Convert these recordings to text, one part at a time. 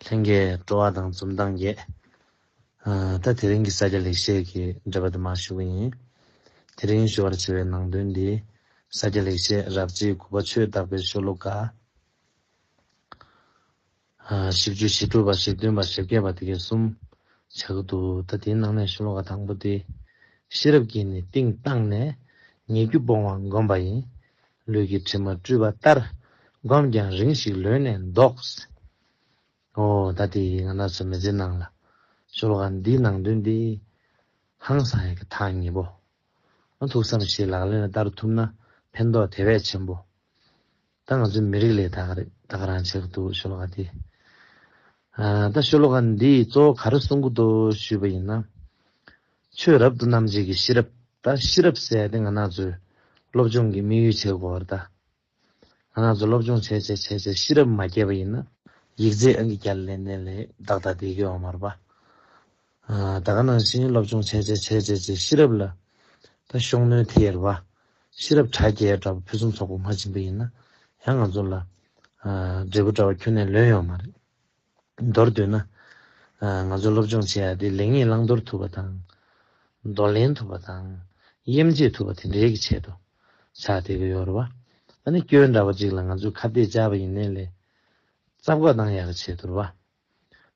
ལྷན་སྐྱེས་སྤྲོ་བ་དང་འཛུམ་མདངས་རྒྱས། ད་དེ་རིང་གི་ས་སྐྱ་ལེགས་བཤད་ཀྱི་འགྲེལ་པ་དུ་མ་ཞུ་གི་ཡིན། དེ་རིང་ཞུ་བར་བྱེད་པའི་ནང་དོན་འདི། ས་སྐྱ་ལེགས་བཤད་རགས་རྗེས་དགུ་པ་ཆོས་བདག་པའི་ཤོ་ལོ་ཀ། བཞི་བཅུ་བཞི་དྲུག་པ་བཞི་བདུན་པ་བཞི་བརྒྱད་པ་དེ་གའི་གསུམ་ཆགས་ཀྱི་འདུག་ད་དེའི་ནང་ནས་ཤོ་ལོ་ཀ་དང་པོ་འདི། ཤེས་རབ་ཀྱིས་ནི་གཏིང་བཏང་ནས། ཉེ་རྒྱུ་སྤོང་བ་བསྒོམ་པ་ཡིན། ལུས་ཀྱི་དྲི་མ་བཀྲུས་པ་ལྟར་བསྒོམས་ཀྱང་རིང་ཞིག་ལོན་ནས་འདོགས། ཨོ་ད་དེ་ཡིས་ང་ན་ཚོད་མི་ཟིན་ནང་ལ་ཤོར་བ་འདིའི་ནང་དོན་འདི་ཧང་སང་ཡག་གི་ཐག་ཉེ་པོ་ཨ་ཐུག་བསམ་ཤེས་ལག་ལེན་ལ་བསྟར་ཐུབ་ན་ཕན་ཐོག་དེ་བས་ཆེན་པོ་ད་ང་ཚོའི་མི་རིགས་ལས་ད་ག་རེད་རང་བྱེད་གི་འདུག་ཤོ་ལོ་ཀ་འདི་ད་ཤོ་ལོ་ཀ་འདིས་གཙོ་བོ་ག་རེ་གསུང་གི་འདུག་ཞུས་པ་ཡིན་ན། ཆོས་རབ་ཏུ་རྣམ་འབྱེད་ཀྱི་ཤེས་རབ་ད་ཤེས་རབ་གསལ་ཏེ་ང་ན་ཚོའི་སློབ་སྦྱོང་གི་དམིགས་ཡུལ་བྱེད་དགོས་བར་ད། ང་ན་ཚོ་སློབ་སྦྱོང་བྱས་བྱས་བྱས་བྱས་ཤེས་རབ་མ་སྐྱེས་པ་ཡིན་ན། ཡིག་རྫས་ཨང་གི་བརྒྱ་ལས་ལན་ལན་ལས་ཏག་ཏག་བསྡད་དགོས་བ་མ་རེད་པ། ད་ག་ནང་བཞིན་སློབ་སྦྱོང་བྱས་བྱས་བྱས་བྱས་བྱས་ཤེས་རབ་ལ་ད་ཤོག་ནོན་དེ་ཡེར་བ། ཤེས་རབ་དྲ་རྒྱའི་འདྲ་པོ་ཕུན་སུམ་ཚོགས་པོ་མ་བྱིན་པ་ཡིན་ན་ཡང་ང་ཚོ་ལ། འབྲས་བུ་འདྲ་བ་ཁྱོན་ནས་ལོན་ཡོང་བ་མ་རེད། མདོར་བསྡུས་ན། ང་ཚོས་སློབ་སྦྱོང་བྱེད་ཡ་དེ་ལེགས་ཉེས་བླང་དོར་ཐུབ་པ་དང། འདོར་ལེན་ཐུབ་པ་དང། དབྱེ་འབྱེད་ཐུབ་པ་དེ་འདྲའི་གི་ཆེད་དུ་ཆགས་ཏེ་གི་ཡོད་རེད་བ། ད་ནི་སྐྱོན་འདྲ་བ་ཅིག་ལ་ང་ཚོས་ཁ་གཏད་བཅག་པ་ཡིན་ནའི་ལས་རྩ་བཀོད་གཏང་ཡ་གི་ཆེད་དུ་རེད་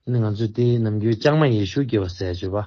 བ། ད་ནི་ང་ཚོས་དེའི་ནམ་རྒྱུན་ལྕང་མ་ཡེ་ཤུ་སྐྱེ་བ་ཟས་སྤྱོད་པ།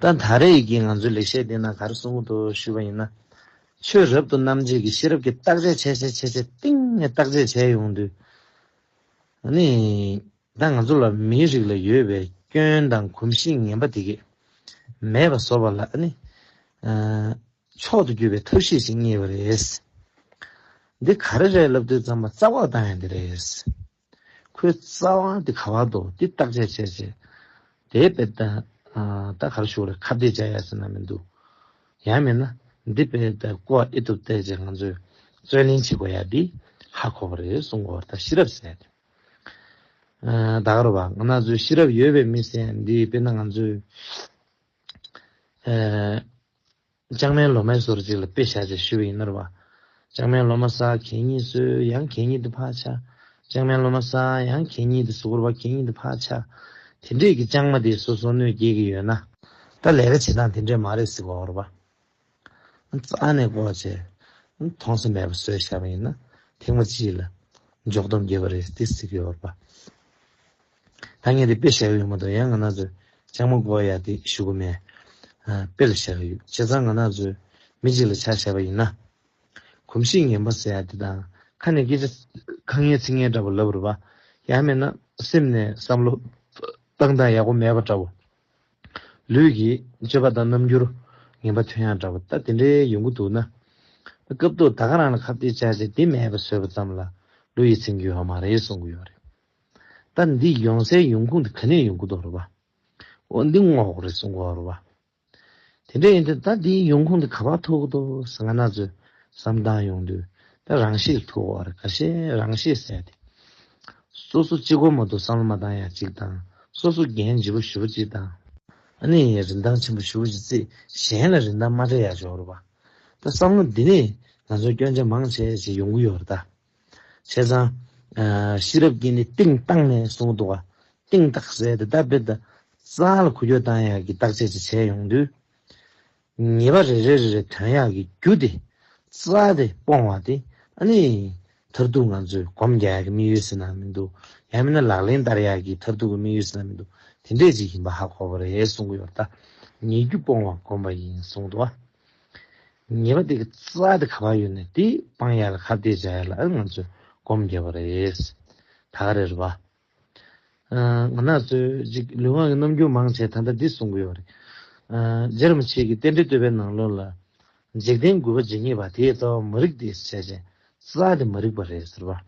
ད་ད་རེས་ཡི་གེ་ང་ཚོའི་ལེགས་བཤད་དེ་ན་གར་གསུང་དུ་ཞུས་པ་ཡིན་ན། ཆོས་རབ་ཏུ་རྣམ་འབྱེད་ཀྱི་ཤེས་རབ་ཀྱིས་བརྟག་དཔྱད་བྱས་བྱས་བྱས་བྱས་གཏིང་ནས་བརྟག་དཔྱད་བྱས་ཡོང་དུས། ནི། ད་ང་ཚོ་ལ་མིའི་རིགས་ལ་ཡོད་པའི་སྐྱོན་དང་གོམས་གཤིས་ངན་པ་དེ་གས་མེད་པ་བཟོ་བ་ལ་ནི། མཆོག་ཏུ་གྱུར་པའི་ཐབས་ཤེས་ཤིག་རྙེད་པ་རེད། འདི་ག་རེ་རེད་ལབ་དུས་རྩམ་པ་རྩ་བར་བཏང་ཡ་འདི་རེད། ཁོའི་རྩ་དབང་དེ་ག་བར་འདུག་འདི་བརྟག་དཔྱད་བྱས་རྗེས། དེའི་དཔེ་ལྟ་ད་གར་བཞུགས་རེད་ཁ་བརྡས་བྱ་ཡ་ཟེར་ན་མི་འདུག་ཡང་མིན་ན་འདི་དཔེ་ལྟ་གོ་བ་ཨེ་འདུག་བལྟས་རྗེས་ང་ཚོས་རྩོད་ལེན་བྱེད་དགོས་ཡ་འདི་ཧ་གོ་བ་རེད་གསུངས་སྐོར་ད་ཤེས་རབ་ཟེར། ད་གར་བ་ང་ཚོས་ཤེས་རབ་ཡོད་པའི་མི་ཟེར་འདི་དཔེ་ན་ང་ཚོས། ལྕང་མའི་ལོ་མའི་སོར་ཅིག་ལ་དཔེ་བཞག་ཅེས་ཞུ་བ་ཡིན་ནོར་བ། ལྕང་མའི་ལོ་མ་ས་གད་གཉིས་སོས་ཡང་གད་གཉིས་དུ་འཕགས་ཆ། ལྕང་མའི་ལོ་མ་ས་ཡང་གད་གཉིས་དུ་སོ་གོར་བ་གད་གཉིས་དུ་འཕགས་ཆ། དེ་འདྲས་ཀྱི་ལྕང་མ་དེ་སོ་སོ་སྣོད་སྐྱེས་ཀྱི་ཡོད་ན། ད་ལས་ཀ་བྱེད་སྟངས་དེ་འདྲས་མ་རེད་ཟེར་བའོ་རོ་བ། རྩ་ནས་བསྐོར་བ་བྱས། མཐོང་སེམས་མེད་པར་སོས་བཞག་པ་ཡིན་ན། ཐེངས་མ་གཅིག་ལ། འཇོག་སྡོམ་རྒྱས་པ་རེད་དེ་ཟེར་གྱི་ཡོད་རོ་བ། ད་ངས་དེ་དཔེ་བཞག་གི་ཡོད་མ་གཏོགས་ཡང་ང་ནག་ཚོས་ཅང་མ་གོ་ཡ་དེ་ཞུ་གི་མེད། དཔེ་ལ་བཞག་གི་ཡོད་བྱས་ཙང་ང་ནག་ཚོས་མི་གཅིག་ལ་ཆ་བཞག་པ་ཡིན་ན། གོམས་གཤིས་ངན་པ་ཟེར་ཡ་དེ་དང་ཁ་ནས་སྐད་ཆ་ཁ་ངན་ཚིག་ངན་འདྲ་པོ་ལབ་རུ་བ། ཡང་མེད་ན་སེམས་ནས་བསམ་བློ་བཏང་དང་ཡག་པོ་མེད་པ་འདྲ་བོ། ལུས་ཀྱི་སྤྱོད་པ་དང་རྣམ་འགྱུར་ངན་པ་ཐོན་ཡག་འདྲ་བོ་ད་དེ་འདྲའི་ཡོང་གི་འདུག་ན། སྐབས་ཐོག་ད་ག་རང་ལ་ཁ་བརྡའི་བྱ་བྱེད་དེ་མེད་པ་བཟོས་པ་ཙམ་ལ་ལོ་ཡིད་ཚིམ་གི་ཡོད་མ་རེད་གསུང་གི་ཡོད་རེད། ད་འདི་ཡོང་སའི་ཡོང་ཁུངས་དེ་ག་ནས་ཡོང་གི་འདུག་རེད་བ། འོ་འདི་ངོ་ཨོག་རེད་གསུང་གི་འོག་རེད་བ། དེ་འདྲ་ཡིན་དུས་ད་འདིའི་ཡོང་ཁུངས་དེ་ག་བ་ཐུག་གི་འདུག་ཟེར་ང་ན་ཚོས་བསམ་གཏང་ཡོང་དུས་ད་རང་ཤེད་ཐུག་གི་འོག་རེད་ག་ཤེད་རང་ཤེད་ཟས་དེ། སོ་སོ་གཅིག་སྒོར་མོ་དུ་བསམ་བློ་མ་བཏང་ཡ་གཅིག་དང་སོ་སོ་འགན་ལྗི་པོ་ཞུ་བ་གཅིག་དང། ཨ་ནེ་ཡའི་རིན་ཐང་ཆེན་པོ་ཞུ་བ་གཅིག་ཚེ་གཞན་ལ་རིན་ཐང་མ་སྤྲད་ཡ་ཆོག་རེད་བ། ད་བསམ་བློ་འདི་ནས་ང་ཚོ་སྐྱོན་ཆ་མང་ཆེ་ཆེ་ཡོང་གི་ཡོག་རེད་ད། བྱས་ཙང། ཤེས་རབ་ཀྱིས་ནི་སྟེང་བཏང་ནས་གསུངས་འདུག། སྟེང་བཏགས་གསལ་དེ་ལྟ་དཔེ་ལྟར། གསང་ལ་ཁུ་ཡོ་བཏང་ཡག་གི་བཏགས་བྱས་ཅི་བྱས་ཡོང་དུས། ངེས་པ་རེ་རེ་རེ་རེ་དོན་ཡག་གི་རྒྱུ་དེ། རྩ་དེ་སྤོང་བ་དེ་ཨ་ནི། མཐར་ཐུག་ང་ཚོས་གོམས་རྒྱག་ཡག་གི་དམིགས་ཡུལ་ཟེར་ན་མི་འདུག་ཡང་མིན་ན་ལག་ལེན་བསྟར་ཡག་གི་མཐར་ཐུག་གི་དམིགས་ཡུལ་ཟེར་ན་མི་འདུག་དེ་འདྲས་ཅིག་ཡིན་པ་ཧ་གོ་བ་རེད་གསུང་གི་ཡོད་ད། ཉེ་རྒྱུ་སྤོང་བ་གོམས་པ་ཡིན་གསུངས་འདུག། ངེས་པ་དེ་གི་རྩ་དེ་ག་བ་ཡོད་ནས་དེ་སྤང་ཡ་ལ་ག་བལྟས་བྱ་ཡ་ལ་ང་ཚོས་སྒོམ་དགོས་པ་རེད། ད་ག་རེད་བ། ང་ནག་ཚོས་གཅིག་ལུས་ངག་གི་རྣམ་འགྱུར་མང་ཆེ་ད་ལྟ་འདི་གསུང་གི་ཡོད་རེད། རྗེ་རིན་པོ་ཆེ་གི་རྟེན་འབྲེལ་བསྟོད་པའི་ནང་ལོགས་ལ། འཇིག་རྟེན་རྒུད་པ་ཇི་སྙེད་པ་དེའི་རྩ་བ་མ་རིག་སྟེ་བྱས་བྱས་རྩ་དེ་མ་རིག་པ་རེད་ཟེར་བ།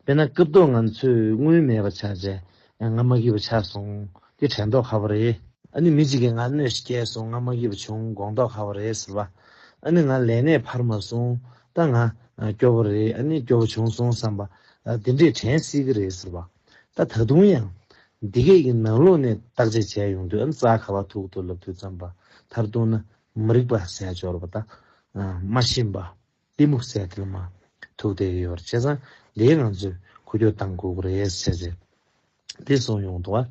དཔེར་ན་སྐབས་ཐོག་ང་ཚོས་དངུལ་མེད་པ་ཆགས་རྗེས་ང་མ་གི་བ་ཆགས་སོང་དེ་དྲན་ཏོག་ཁ་བོ་རེད། ཨ་ནི་མི་གཅིག་གིས་ང་གནོད་སྐྱེལ་སོང་ང་མ་གི་བ་བྱུང་དགོངས་ཏོག་ཁ་བོ་རེད་ཟེར་བ། ཨ་ནི་ང་ལས་གནས་འཕར་མ་སོང་ད་ང་སྐྱོ་བོ་རེད་ཨ་ནི་སྐྱོ་བོ་བྱུང་སོང་བསམ་པ། དེ་འདྲས་དྲན་སྲིད་ཀི་རེད་ཟེར་བ། ད་ད་དུང་ཡང། འདི་གས་ཀྱི་ནང་ལུགས་ནས་བརྟག་དཔྱད་བྱས་ཡོང་དུས་ཨ་ནི་རྩ་ཁ་བ་ཐུག་ཐུག་ལབ་དུས་བརྩམས་པ་མཐར་གཏུགས་ན་མི་རིགས་པ་ཟས་སྦྱོར་བ་དང། མ་ཤེས་པ། གཏི་མུག་སེལ་ཐལ་མ། ཐུགས་དད་ཡོད་པར་བྱས་ཙང་འདིའི་ངང་ཚུལ་ཁུ་རྒྱོགས་གཏང་དགོས་ཀྱི་རེད་ཟེར་ཟེར། དེ་གསུངས་ཡོང་དུ་བ།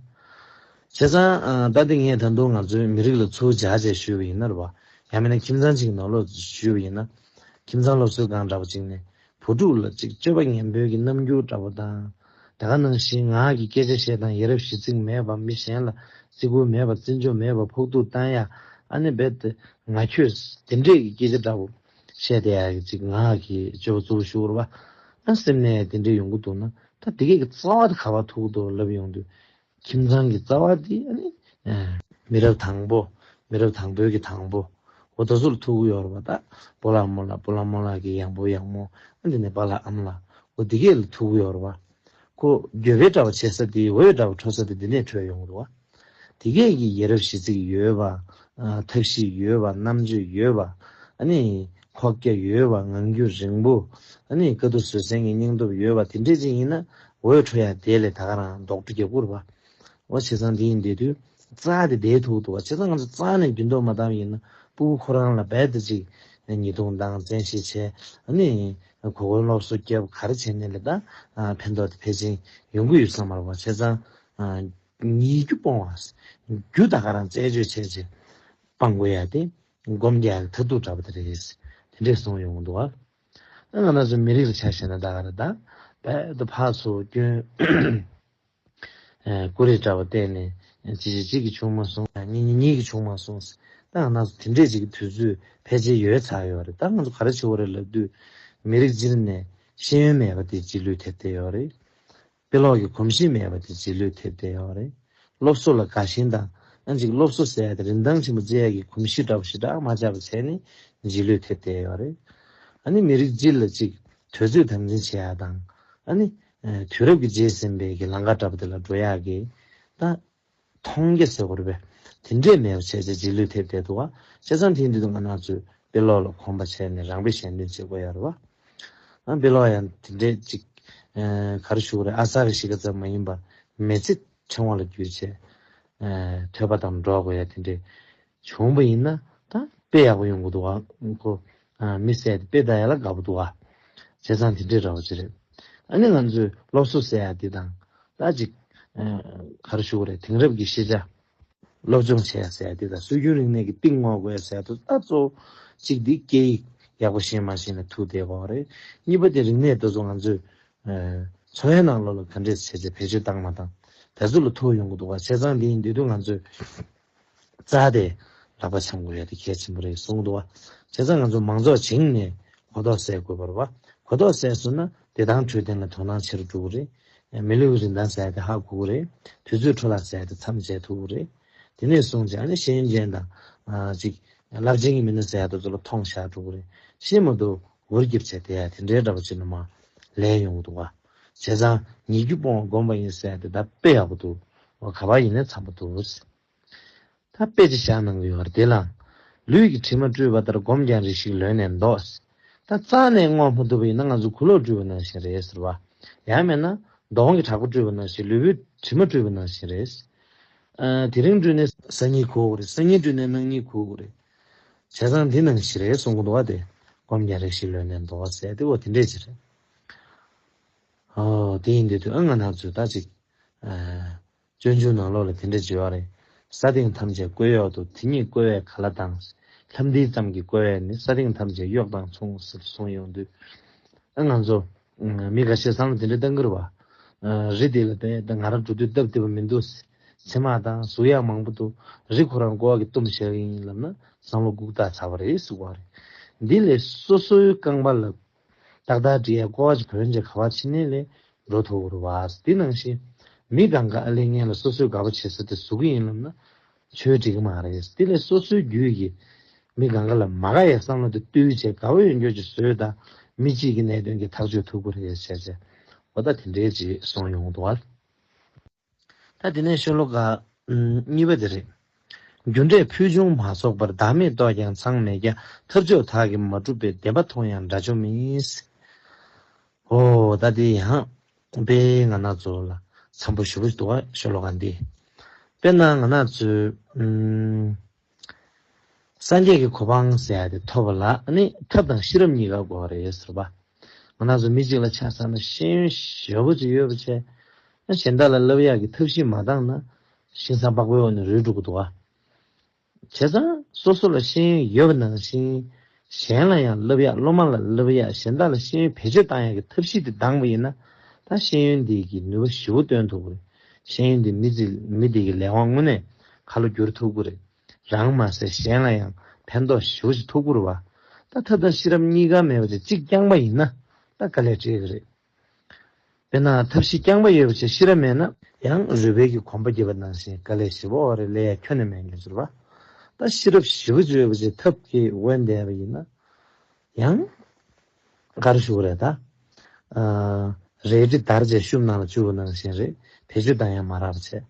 བྱས་ཙང་ད་དེ་ངས་ད་དུང་ང་ཚོའི་མི་རིགས་ལ་ཚུར་བྱ་བྱས་ཞུས་པ་ཡིན་ན་རེད་བ། ཡང་མིན་ན་ཁྱིམ་ཚང་གཅིག་ནོར་ལོག་ཞུས་པ་ཡིན་ན། ཁྱིམ་ཚང་སློབ་གསོའི་སྒང་འདྲ་པོ་གཅིག་ནས་བུ་ཕྲུག་ལ་ཅིག་སྤྱོད་པ་ངན་འབོད་ཀྱི་རྣམ་འགྱུར་འདྲ་པོ་དང། དེ་ག་ནང་བཞིན་ངག་གི་སྐད་ཆ་བཤད་སྟངས་ཡེ་རབ་གཞི་ཚིག་མེད་པ་མི་གཞན་ལ་བརྩི་བཀུར་མེད་པ་བརྩི་འཇོག་མེད་པ་ཕོག་ཐུག་བཏང་ཡ་ཨ་ནེ་བེད་དེ་ང་ཁྱོད་དེ་འདྲས་ཀྱི་སྐད་ཆ་འདྲ་པོ། བཤད་དེ་ཡག་ཅིག་ང་གིས་སྤྱོད་པ་གཙོ་བོ་ཞུ་བར་བ། སེམས་ནས་དེ་འདྲས་ཡོང་གི་འདུག་ན་ད་དེ་གས་ཀྱི་རྩ་བ་དེ་ག་བ་ཐུག་འདུག་ལབ་ཡོང་དུས། ཁྱིམ་ཚང་གི་རྩ་བ་དེ་ཨ། མི་རབས་དང་པོ་མི་རབས་དང་པོའི་གི་དང་པོ་འོ་ད་སུ་ལ་ཐུག་གི་ཡོར་བ་ད་པོ་ལ་མོ་ལ་པོ་ལ་མོ་ལ་གི་ཡང་པོ་ཡང་མོ་ཨ་འདི་ནས་པ་ལ་ཨམ་ལ་འོ་དེ་གས་ལ་ཐུག་གི་ཡོར་བ། ཁོ་རྒྱོ་བའི་དྲ་བ་བྱེད་ས་དེ་འོད་དྲ་བ་འཕྲོ་ས་དེ་འདི་ནས་འཕྲོས་ཡོང་རོགས། དེ་གས་ཀྱི་ཡས་རབས་གཞི་ཚིག་ཡོད་པ། ཐབས་ཤེས་ཡོད་པ་རྣམ་དཔྱོད་ཡོད་པ། ཨཱ་ནི། ཁོག་རྒྱ་ཡོད་པ་ངང་རྒྱུད་རིང་པོ། ཨཱ་ནི་དཀའ་སྡུག་བཟོད་བསྲན་གྱི་སྙིང་སྟོབས་ཡོད་པ་དེ་འདྲས་ཅིག་ཡིན་ན་འོད་འཕྲོ་ཡག་དེ་ལས་ད་ག་རང་རྡོག་ཁྲེ་རྒྱབ་ཁུར་བ། ཨོ་བྱས་ཙང་དེ་ཡིན་བསྡད་དུས་རྩ་དེ་བསྡད་ཐུག་འདུག་བ་བྱས་ཙང་ང་ཚོ་རྩ་ནས་རྒྱུན་ལྡོག་མ་བཏང་བ་ཡིན་ན་སྤུ་བོ་ཁོ་རང་ལ་རྦད་དེ་ཅིག་ཉེས་རྡུང་སྡང་བཙན་ཞེས་བྱས་ཨཱ་ནི། གོ་བསྐོན་སློབ་གསོ་སྐྱེ་བ་གར་བྱས་ནས་ལས་དང་ཕན་ཐོགས་ཏེ་ཕལ་ཆེན་ཡོང་གི་ཡོད་བསམ་མར་བ་ཆེ་ཚང་ཉིད་རྒྱུ་སྤོང་བ། རྒྱུ་དག་ག་རང་རྩད་གཅོད་བྱས་རྗེས་སྤང་དགོས་ཡ་སྟེ། སྒོམ་རྒྱག་གི་མཐར་ཐུག་འདྲ་པོ་དེ་རེད། དེ་འདྲས་སོང་ཡོང་གི་འདུག་བ། ང་ནག་ཚོ་མི་རིགས་ལ་ཆ་བཞག་ན་ད་ག་རེ་ད། བལ་དུ་ཕག་ཚོ་སྐྱོན། ཀུ་རེ་འདྲ་བ་བལྟས་ནས། གཅིག་གཅིག་གཅིག་གིས་ཆུང་མ་སོང། གཉིས་གཉིས་གཉིས་གིས་ཆུང་མ་སོང། ཟེར། ད་ང་ཚོ་དེ་འདྲས་ཅིག་གི་དུས་ཚོད་ཕལ་ཆེར་ཡོལ་ཚར་ཡོད་རེད། ད་ང་ཚོ་ག་རེ་བྱེད་འོ་རེད་ལབ་དུས། མི་རིགས་སྤྱིར་ནས་ཤེས་ཡོན་མེད་པ་དེ་སྤྱི་ལུས་ཐེབས་བསྡད་ཡོད་རེད། དཔེ་ཀློག་གི་གོམས་གཤིས་མེད་པ་དེ་སྤྱི་ལུས་ཐེབས་བསྡད་ཡོད་རེད། སློབ་གསོ་ལ་དགའ་ཞེན་དང། གཅིག་སློབ་གསོ་ཟེར་ཡ་དེ་རིན་ཐང་ཆེན་པོ་བརྩི་ཡ་གི་གོམས་གཤིས་འདྲ་བོ་ཞིག་དྲག་མ་ཆགས་པ་བྱས་ནས་སྤྱི་ལུས་ཐེབས་བསྡད་ཡོད་རེད། ཨ་ནི་མི་རིགས་སྤྱིར་ལ་གཅིག་དུས་ཚོད་དམ་འཛིན་བྱེད་ཡ་དང། ཨ་ནི། དུས་རབས་ཀྱི་རྗེས་ཟིན་པའི་གི་ལང་ཀ་འདྲ་པོ་དེ་ལ་འགྲོ་ཡག་གི། ད། མཐོང་རྒྱ་ཟེར་བ་རེད་པས། དེ་འདྲས་མེད་པ་བྱས་ཚེ་རྗེས་ལུས་ཐེབས་བསྡད་འདུག་ཨ། བྱས་ཙང་དེའི་མདུན་དུ་ང་ནག་ཚོས་དཔེ་ཀློག་ལ་གོམས་པ་བྱས་ནས་རང་དཔེ་གཞན་སྟོན་བྱེད་དགོས་ཡག་རེད་བ། ཨ། དཔེ་ཀློག་ཡང་དེ་འདྲས་ཅིག། ག་རེ་ཞུ་གི་རེད་ཨ་ས་རེ་ཞིག་ག་ཙམ་མ་ཡིན་པར་མེ་ཚེ་ཕྲེང་བ་ལ་བརྒྱུད་བྱས། ཐོས་པ་དང་འགྲོག་དགོས་ཡ་དེ་འདྲས། བྱུང་བ་ཡིན་ན་ད་དཔེ་ཡག་པོ་ཡོང་གི་འདུག་ཨ་ཁོ། མི་ཟད་དཔེ་བལྟ་ཡ་ལ་དགའ་པོ་འདུག་ཨ། བྱས་ཙང་དེ་འདྲས་ར་བ་ཅི་རེད། ཨ་ནི་ང་ཚོས་སློབ་གསོ་ཟེར་ཡ་འདི་དང་ད་ཅིག། གར་ཞུ་བ་རེད་དེང་རབས་ཀྱི་ཤེས་བྱ། སློབ་སྦྱོང་བྱས་ཡ་ཟེར་ཡ་འདི་དང་སྲོལ་རྒྱུན་རིག་གནས་ཀྱི་གཏིང་ངོ་དགོས་ཡ་ཟེར་ཡ་དུ་ད་གཙོ་བོ་གཅིག་འདི་སྐད་ཡིག་ཡག་པོ་ཤེས་མ་ཤེས་ནས་ཐུག་བསྡད་པའོ་རེད། གཉིས་པ་དེ་རིག་གནས་དེ་ཚོ་ང་ཚོས། འཚོ་བའི་ནང་ལོ་ལ་ག་འདྲས་བྱས་བྱས་བེད་སྤྱོད་བཏང་མ་བཏང། དེ་ཚོ་ལ་ཐུག་ཡོང་གི་འདུག་ཨ་བྱས་ཙང་དེ་ཡིན་དེ་དུས་ང་ཚོས། རྩ་དེ་ལག་པ་འཆང་དགོས་ཡ་དེ་གལ་ཆེན་པོ་རེད་གསུང་འདུག་བ། བྱས་ཙང་ང་ཚོ་མང་ཚོགས་བྱིངས་ནས་གོ་རྟོགས་སད་དགོས་པར་བ། གོ་རྟོགས་སད་སོང་ན་བདེ་ཐང་འཕྲོད་བསྟེན་ལ་དོ་སྣང་ཆེ་རུ་འགྲོ་གི་རེད། མི་ལུས་ཀྱི་རིན་ཐང་ཟད་དེ་ཧ་གོ་གི་རེད། དུས་ཚོད་འཕྲོ་བརླག་ཟད་དེ་མཚམས་འཇལ་ཐུབ་གི་རེད། དེ་ནས་བཟུང་ཅི་ཨ་ནི་ཤེས་མཁན་དང། ཅིག། རླབས་ཆེན་གྱི་མི་སྣ་ཟད་དུ་ཚོ་ལ་མཐོང་བཞག་འགྲོ་གི་རེད། ཤེས་མ་ཐུབ། འུར་སྐྱིབས་བྱས་དེ་ཡ་དེ་འདྲའི་འདྲ་པ་ཅིག་ནི་མ། ལས་ཡོང་གི་འདུག་བ། བྱས་ཙང་ཉེ་རྒྱུ་སྤོང་བ་སྒོམ་པ་ཡིན་ཟེར་ཏེ་ད་དཔེ་ཡག་པོ་འདུག་ག་པར་ཡིན་ནས་འཚམས་པོ་འདུག་ད་དཔེ་ཅི་བཞག་གནང་གི་ཡོད་རེད་དེ་ལ། ལུས་ཀྱི་དྲི་མ་བཀྲུས་པ་ལྟར་སྒོམ་ཀྱང་རེ་ཞིག་ལོན་ནས་འདོགས། ད་རྩ་ནས་བསྔོ་མ་ཐུབ་པ་ཡིན་ན་ང་ཚོ་གུ་ལོག་བཀྲུས་པ་ནང་བཞིན་རེད་ཟེར་བ། ཡང་མེད་ན། མདོག་གི་དྲག་པོ་བཀྲུས་པ་ནང་བཞིན་ལུས་པོའི་དྲི་མ་བཀྲུས་པ་ནང་བཞིན་རེད། དེ་རིང་བཀྲུས་ནས། སང་ཉིན་གོ་དགོས་རེད་སང་ཉིན་བཀྲུས་ནས་གནངས་ཉིན་གོ་དགོས་རེད། བྱས་ཙང་འདི་ནང་བཞིན་རེད་གསུང་གི་འདུག་ག་དེ་སྒོམ་ཀྱང་རེ་ཞིག་ལོན་ནས་འདོགས་ཟེར་ཏེ་འོ་དེ་འདྲའི་ཆ་རེད། དེ་ཡིན་དུས་དུས་ཨ་ང་ནག་ཚོས་ད་ཅིག། སྤྱོད་འཇུག་ནང་ལོག་ལ་དེ་འདྲ་བརྗོད་ཡག་རེད། ས་སྟེང་ཐམས་ཅད་བཀོལ་གཡོག་ཏུ་དེ་གཉིས་བཀོལ་བས་ག་ལ་དང། ལྷམ་འདི་ཙམ་གྱི་བཀོལ་བས་ནི་ས་སྟེང་ཐམས་ཅད་གཡོག་དང་མཚུངས་ཟེར་གསུངས་ཡོང་དུས། ཨ་ང་ཚོ། མི་ག་ཤེད་སང་ལ་དེ་འདྲའི་སྟངས་ཀྱི་རུ་བ། རི་དེ་ལ་བལྟས་ད་ང་རང་འགྲོ་དུས་སྟབས་བདེ་པོ་མི་འདུག། ཚེར་མ་དང་གཟུགས་ཡག་མང་པོ་འདུག་རི་ཁོ་རང་ཀོ་བ་གི་གཏུམ་བཤལ་གྱི་ཡིན་ལབ་ན་བསམ་བློ་སྒུག་ད་ཚར་བ་རེད་ཟུག་བ་རེད། འདི་ལས་སོ་སོའི་རྐང་པ་ལ་ཏག་ཏག་འདྲི་ཡས་ཀོ་ཨ་ཅི་བོན་གྱི་ཁ་བ་ཕྱི་ནས་ལས་འགྲོ་ཐོ་བོར་བསས་འདི་ནང་བཞིན་མི་གང་ག་ཨ་ལས་ངན་ལ་སོ་སོས་དགའ་བོ་བྱེད་ས་དེ་ཟུ་གི་ཡིན་ལབ་ན་ཆོས་འགྲིག་གི་མ་རེད་དེ་ལས་སོ་སོའི་རྒྱུད་ཀྱི་མི་གང་ག་ལ་མ་དགའ་ཡས་བསམ་བློ་དེ་བཏུལ་བྱས་དགའ་བོ་ཡོད་འགྱོ་ཅི་བཟོས་ད་མི་གཅིག་གི་གནད་དོན་གྱི་ཐག་གཅོད་ཐུབ་གི་རེད་བྱས་བྱས་འོ་ད་དེ་འདྲའི་རྗེས་སོང་ཡོང་དུ་བར། ད་དེ་ནས་ཤོ་ལོ་ཀ་གཉིས་པ་དེ་རེད། རྒྱུ་འབྲས་ཕུལ་བྱུང་མ་ཚོགས་པར་བདག་མེད་རྟོགས་ཀྱང་ཚང་མེད་རྒྱ་ཐབས་ཕྱོགས་དག་གིས་མ་གྲུབ་པའི་བདེན་པ་མཐོང་ཡང་འདྲ་ཆོ་མེད། ཧོ། ད་དེ་ཡང། དཔེ་ང་ན་ཚོ་ལ་འཚམས་པོ་ཞུ་གི་འདུག་ཤོ་ལོ་ཀ་འདི། དཔེར་ན་ང་ན་ཚོས། སངས་རྒྱས་ཀྱི་གོ་འཕང་ཟད་དེ་ཐོབ་པ་ལ་ནི་ཐབས་དང་ཤེས་རབ་གཉིས་ཀ་དགོས་པ་རེད་ཟེར་བ། ང་ནགས་སུ་མི་གཅིག་ལ་ཆགས་ས་ན་ཤེས་ཡོན་ཞེ་བོ་ཅིག་ཡོད་པ་ཆེ། གཞན་དག་ལ་བསླབ་གཡག་གི་ཐབས་ཤེས་མ་བཏང་ན་ཤིང་བཟང་པགས་པའི་འོག་ནས་རུལ་འགྲོ་གི་འདུག་བྱས་ཙང་སོ་སོ་ལ་ཤེས་ཡོན་ཡོད་པ་ནང་བཞིན་གཞན་ལ་ཡང་བསླབ་ཡག་སློབ་མ་ལ་བསླབ་ཡག་གཞན་དག་ལ་ཤེས་ཡོན་བེད་སྤྱོད་གཏང་ཡག་གི་ཐབས་ཤེས་དེ་ལྡང་བ་ཡིན་ན། ད་ཤེས་ཡོན་འདི་གིས་ནུས་པ་ཞི་བོ་བཏོན་ཐུབ་ཀི་རེད། ཤེས་ཡོན་འདིས་མི་ཚེ་མི་འདི་གི་ལས་དབང་དངོས་གནས་ག་ལ་བསྒྱུར་ཐུབ་ཀི་རེད། རང་མ་ཟད་གཞན་ལ་ཡང་ཕན་ཐོགས་ཞི་བོ་ཞིག་ཐུབ་ཀི་རུ་བ། ད་ཐབས་དང་ཤེས་རབ་གཉིས་ཀ་མེད་པ་དེ་གཅིག་རྐྱང་པ་ཡིན་ན་ད་ག་ལས་འབྲས་ཀི་རེད། དཔེར་ན་ཐབས་ཤེས་རྐྱང་པ་ཡོད་པ་ཆེ་ཤེས་རབ་མེད་ན། ཡང་རུས་སྦལ་གྱི་གོམ་པ་རྒྱས་པ་ནང་བཞིན་དཀའ་ལས་བཞི་བོ་རེ་ལས་ཡ་ཁྱོད་ནི་མེད་མཁན་ཟེར་བ། ད་ཤེས་རབ་བཞི་བོ་བརྗོད་པ་ཆེ་ཐབས་ཀྱིས་དབེན་བསྡད་པ་ཡིན་ན། ཡང་དགའ་རུ་ཞུགས་རེད་ད། རལ་གྲི་དར་ཅའི་ཤུབས་ནང་ལ་བཅུག་པ་ནང་བཞིན་རེད་བེད་སྤྱོད་དང་ཡང་མ་རག་པ་བྱས།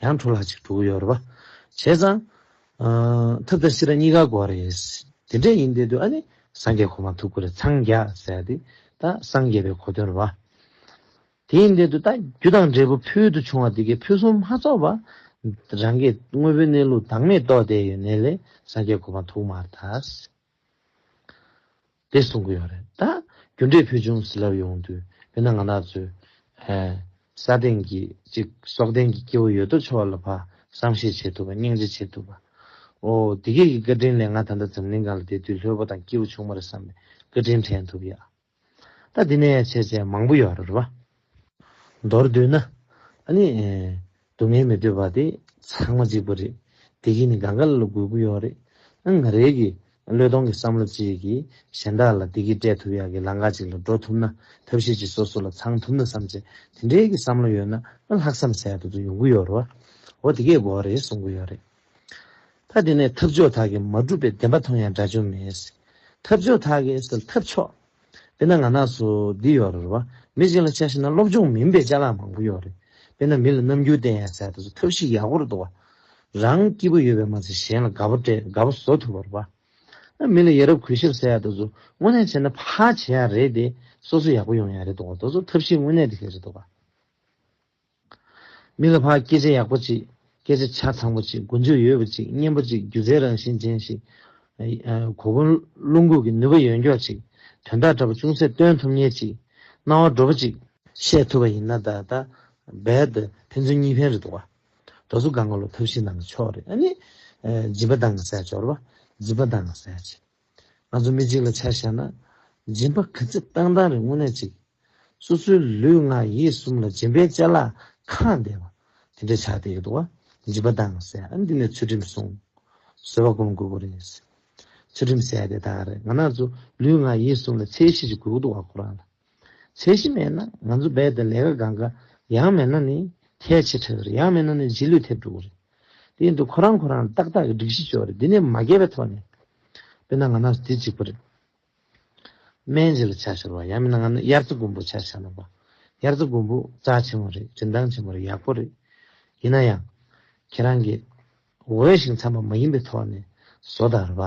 ཡང་འཕྲོ་ལྷག་ཅིག་འགྲོ་གི་ཡོད་རེད་བ། བྱས་ཙང། ཐབས་དང་ཤེས་རབ་གཉིས་ཀ་དགོས་རེད། དེ་འདྲས་ཡིན་དེ་དུས་ཨ་ནི་སངས་རྒྱས་གོ་མ་ཐུབ་ཁུ་རེ་འཚང་རྒྱ་ཟེར་ཏེ་ད་སངས་རྒྱས་པའི་གོ་དོན་ར་བ། དེ་ཡིན་དེ་དུས་ད་རྒྱུ་དང་འབྲས་བུ་ཕུལ་དུ་བྱུང་བ་དེ་གས་ཕུན་སུམ་མ་ཚོགས་པ། རང་གས་དངོས་པོའི་གནས་ལུགས་བདག་མེད་རྟོགས་བསྡད་ཡོད་ནས་ལས་སངས་རྒྱས་གོ་མ་ཐུག་མ་ཐག། དེ་གསུང་གི་ཡོད་རེད་ད། རྒྱུ་འབྲས་ཕུལ་བྱུང་ཟི་ལབ་ཡོང་དུས་དཔེར་ན་ང་ལགས་ཚོས། ས་སྟེང་གི་ཅིག་སྲོག་ལྡན་གྱི་སྐྱེ་བོ་ཡོད་དོ་ཅོག་ལ་བར་བསམ་ཤེས་བྱེད་ཐུབ་པ་སྙིང་རྗེ་བྱེད་ཐུབ་པ། ཨོ། འདི་སྐད་ཀྱི་བཀའ་དྲིན་ལས་ང་ད་ལྟ་འཛམ་གླིང་གང་ལ་བསྡད་དུས་ལྷོད་པོ་དང་སྐྱིད་པོ་བྱུང་མ་རེད་བསམ་པའི་བཀའ་དྲིན་དྲན་ཐུབ་ཡ། ད་འདི་ནས་བྱས་བྱས་མང་པོ་ཡོད་རེད་བ། མདོར་བསྡུས་ན། ཨ་ནི། སྡུག་བསྔལ་མི་འདོད་པ་དེ་ཚང་མ་གཅིག་པུ་རེད། དེ་གིས་ནི་གང་ག་ལ་ལ་དགོས་ཀི་ཡོད་རེད། ཨང་ང་རེད་གི། བློས་གཏོང་གི་བསམ་བློ་གཅིག་གིས་གཞན་དག་ལ་དེ་གིས་སྤྲད་ཐུབ་ཡག་གི་ལང་ཀ་གཅིག་ལ་འགྲོ་ཐུབ་ན་ཐབས་ཤེས་གཅིག་སོ་སོ་ལ་ཚང་ཐུབ་ན་བསམ་བྱས་དེ་འདྲའི་གི་བསམ་བློ་ཡོད་ན་ཨ་ལྷག་བསམ་གསལ་དུ་དུ་ཡོང་གི་ཡོད་རེད་བ། འོ་དེ་གས་དགོས་རེད་གསུང་གི་ཡོད་རེད། ད་དེ་ནས་ཐབས་མཆོག་དག་གིས་མ་བསྒྲུབས་པའི་བདེན་པ་མཐོང་ཡང་སྒྲ་བྱུང་མེད། ཐབས་མཆོག་དག་གིས་ཟེར་ཐབས་མཆོག། དཔེར་ན་ང་ན་སོ་འདི་ཡོད་རེད་བ། མི་གཅིག་ལ་དཔྱད་ཤེས་ན་སློབ་སྦྱོང་མིན་པའི་དཔྱད་ལམ་མང་པོ་ཡོད་རེད། དཔེར་ན་མི་ལ་རྣམ་འགྱུར་བསྟན་ཡང་ཟད་ད་གཟོད་ཐབས་ཤེས་ཡག་པོ་རེད་འདུག་བ། རང་སྐྱིད་པོ་ཡོད་པས་མ་ཚད་གཞན་ལ་དགའ་པོ་སྤྲད་དགའ་པོ་བཟོ་ཐུབ་པར་བ། མི་ལ་ཡ་རབས་གུས་ཞབས་ཟེར་ཡང་ད་གཟོད་དངོས་གནས་བྱས་ན་ཕ་བྱེད་ཡག་རེད་དེ། སོ་སོ་ཡག་པོ་ཡོང་ཡག་རེད་འདུག་བ་ད་གཟོད་ཐབས་ཤེས་དངོས་གནས་དེ་ལས་རེད་འདུག་བ། མི་ལ་ཕ་སྐད་ཆ་ཡག་པོ་ཅིག་སྐད་ཆ་ཆ་ཚང་པོ་ཅིག་མགོ་མཇུག་ཡོད་པོ་ཅིག་སྙན་པོ་ཅིག་སྒྱུ་རྩལ་རང་བཞིན་ཅན་ཞིག། གོ་བསྐོན་བློ་འགུག་གི་ནུས་པ་ཡོད་མགྱོགས་ཅིག་དོན་དག་འདྲ་པོ་ཅུང་ཟད་སྟོན་ཐུབ་ཉེར་གཅིག་སྣང་བ་འགྲོ་པོ་ཅིག། བཤད་ཐུབ་པ་ཡིན་ན་ད་ལྟ་རྦད་དེ་ཕན་ཚུན་གཉིས་ཕན་རེད་འདུག་བ། རྡོ་སོ་དགའ་མགོ་ལ་ཐབས་ཤེས་གནང་གི་ཆོག་རེད་ཨ་ནི། སྦྱིན་པ་གདང་གི་ཟས་འབྱོར་བ་སྦྱིན་པ་གདང་གི་ཟས་བྱེད། ང་ཚོ་མི་གཅིག་ལ་ཆ་བཞག་ན། སྦྱིན་པ་ག་ཚད་བཏང་བཏང་རེད་དངོས་གནས་གཅིག། སོ་སོའི་ལུས་ངག་ཡིད་གསུམ་ལ་སྦྱིན་པའི་བཅའ་ལག་ཁ་འདེད་པ། དེ་འདྲ་བྱ་བསྡད་ཡོད་འདུག་བ། སྦྱིན་པ་བཏང་ཟེར་ཡ་འདི་ནས་ཚུལ་ཁྲིམས་སྲུང། བཟོད་པ་སྒོམ་དགོས་པོ་རེད། ཚུལ་ཁྲིམས་ཟེར་ཡ་དེ་དག་རེད་ང་ནག་ཚོ་ལུས་ངག་ཡིད་གསུམ་ལ་ཚད་གཞི་ཞིག་དགོས་ཀྱི་འདུག་བ་ཁོ་རང་ལ། ཚད་གཞི་མེད་ན་ང་ཚོ་རྦད་དེ་ལས་ཀ་འགའ་འགའ་ཡང་མེད་ན་ནི་ཁྱད་ཆེ་ཕྲ་གི་རེད་ཡང་མེད་ན་ནི་རྗེས་ལུས་ཐེབས་འགྲོ་གི་རེད། དེ་ཡིན་དུས་ཁོ་རང་ཁོ་རང་ལ་ཏག་ཏག་གི་སྒྲིག་གཞི་འཇོག་རེས་དེ་ནས་མ་བརྒལ་བའི་ཐོག་ནས། དཔེར་ན་ང་ནང་སོ་དེ་གཅིག་པུ་རེད། སྨན་རྗེས་ལ་བྱ་ཞོར་བ་ཡང་མིན་ན་ང་ནི་དབྱར་རྩི་དགུན་འབུ་བྱ་ཞག་ལ་བབས། དབྱར་རྩི་དགུན་འབུ་རྩ་ཆེན་མོ་རེད་རིན་ཐང་ཆེན་མོ་རེད་ཡག་པོ་རེད། ཡིན་ན་ཡང། ཁྱེད་རང་གིས། འོས་ཤིང་འཚམ་པ་མ་ཡིན་པའི་ཐོག་ནས་བཟོ་དང་ར་བ།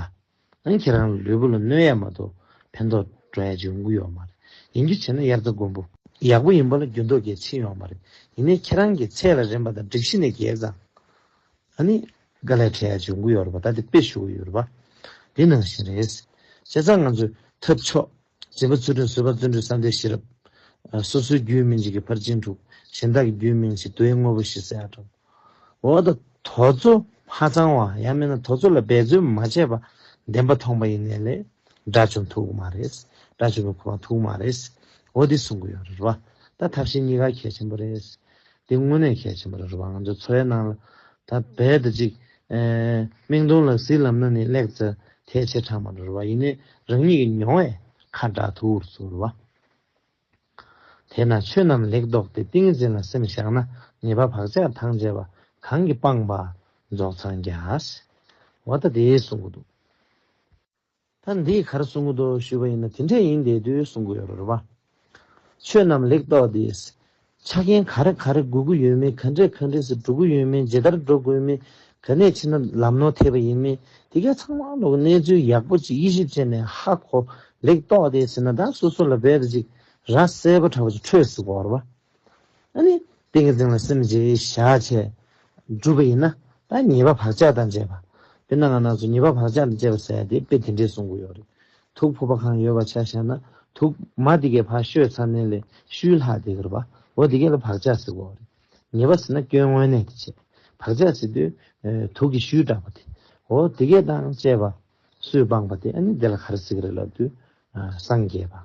ཨང་ཁྱེད་རང་ལུས་པོ་ལ་གནོད་ཡ་མ་གཏོགས་ཕན་ཐོག་འགྲོ་ཡ་འབྱུང་གི་ཡོག་མ་རེད་ཡིན་རྒྱུ་བྱས་ན་དབྱར་རྩ་དགུན་འབུ་ཡག་པོ་ཡིན་པ་ལ་རྒྱུ་མདོག་གལ་ཆེ་ཡོག་མ་རེད་ཡིན་ནའི་ཁྱེད་རང་གི་ཚད་ལ་རན་པ་དང་འགྲིག་གཞི་ནས་གལ་ཙང་ཨ་ནི་དགའ་ལས་འཕྲད་ཡ་འབྱུང་གི་ཡོག་ར་བ་ད་དེ་དཔེ་ཞུ་གི་ཡོད་ར་བ་འདི་ནང་བཞིན་རེད་བྱས་ཙང་ང་ཚོས་ཐབས་མཆོག། བཟོད་པ་ཚུལ་ཁྲིམས་བཟོད་པ་བརྩོན་འགྲུས་བསམ་འདས་ཤེས་རབ། སོ་སོའི་རྒྱུད་སྨིན་བྱེད་ཀྱི་ཕར་ཕྱིན་དྲུག། གཞན་དག་གི་རྒྱུད་སྨིན་བྱེད་རྡོའི་དངོས་པོ་བཞི་གསལ་བསྒྲགས། འོ་ད་དོ་ཚོ་མ་ཚང་བ་ཡང་མིན་ན་དོ་ཚོ་ལ་འབད་རྩོལ་མ་བྱས་པ་བདེན་པ་ཐོངས་པ་ཡིན་ནས་ལས་སྒྲ་བྱུང་ཐུག་མ་རེད། སྒྲ་བྱུང་བའི་གོ་བ་ཐུག་མ་རེད། འོ་འདི་གསུང་གི་ཡོད་རེད་བ། ད་ཐབས་ཤེས་གཉིས་ཀ་གལ་ཆེན་པོ་རེད། འདི་དངོས་གནས་གལ་ཆེན་པོ་རེད་རེད་བ་ང་ཚོའི་འཚོ་བའི་ནང་ལ་ད་རྦད་དེ་ཅིག་སྨྲེང་སྡོང་ལ་གཟིགས་ལབ་ན་ནི་སླེག་ཚ་ཐལ་ཆེ་དྲགས་མ་རེད་བ་ཡིན་ནའི་རང་ཉིད་ཀྱི་མྱོང་བས་ཁ་གྲགས་ཐུག་རེད་ཟུར་བ། དེས་ན་ཆོས་རྣམས་ལེགས་རྟོགས་ཏེ་ཏིང་འཛིན་ལ་སེམས་བཞག་ན་ཉེས་པ་བག་ཆགས་ཐང་ཆད་པ་གང་གིས་སྤངས་པ་རྫོགས་འཚང་རྒྱ། བ་ད་དེའི་གསུང་གི་འདུག། ད་འདིས་གར་གསུང་གི་འདུག་ཞུས་པ་ཡིན་ན་དེ་འདྲས་ཡིན་བསྡད་དུས་གསུང་གི་ཡོད་རེད་བ། ཆོས་རྣམས་ལེགས་རྟོགས་འདིས། ཆ་རྐྱེན་ག་རེ་ག་རེ་དགོས་ཀི་ཡོད་མིན་ག་འདྲས་ག་འདྲས་སུ་འགྲོ་དགོས་ཡོད་མིན་ཇི་ལྟར་འགྲོ་དགོས་མིན་ག་ནས་ཕྱིན་ན་ལམ་ནོར་ཐེབས་པ་ཡིན་མིན་དེ་ག་ཚང་མ་ལོག་གནས་ཚུལ་ཡག་པོ་ཅིག་དབྱེ་ཞིབ་བྱས་ནས་ཧ་གོ་ལེགས་རྟོགས་འདིས་ཟེར་ན་ད་སོ་སོ་ལ་འབད་དུ་ཅིག་ར་གསལ་པོ་དྲ་བ་ཅིག་འཕྲོད་སི་གོ་རེད་བ། ཏིང་ངེ་འཛིན་ལ་སེམས་བསྐྱེད་བྱ། བྱས་གྲུབ་པ་ཡིན་ན། ད་ཉེས་པ་བག་ཆགས་དང་བཅས་པ། དེ་ནང་ང་ནང་སོགས་ཉེས་པ་བག་ཆགས་དང་བཅས་པ་ཟད་དེ་དཔེ་དེ་འདྲའི་གསུང་གི་ཡོད་རེད། དུག་ཕོག་པ་གང་ཡོད་བ་ཆ་བཞག་ན་དུག། མ་དེ་གའི་བག་ཤོས་ཚ་ནན་ལས་ཤུལ་ལྷག་དེ་གར་བ། འོ་དེ་གའི་ལ་བག་ཆགས་ཟེར་བའོ་རེད། ཉེས་པ་ཟེར་ན་སྐྱོན་དངོས་གནས་དེ་བྱས། བག་ཆགས་ཟེར་དུས། དུག་གི་ཤུལ་དྲག་པ་དེ། འོ་དེ་གའི་དང་བཅས་པ། སུས་སྤངས་པ་དེ་ཨ་ནི་དེ་ལ་ག་རེ་ཟེར་གི་རེད་ལབ་དུས། སངས་རྒྱས་པ།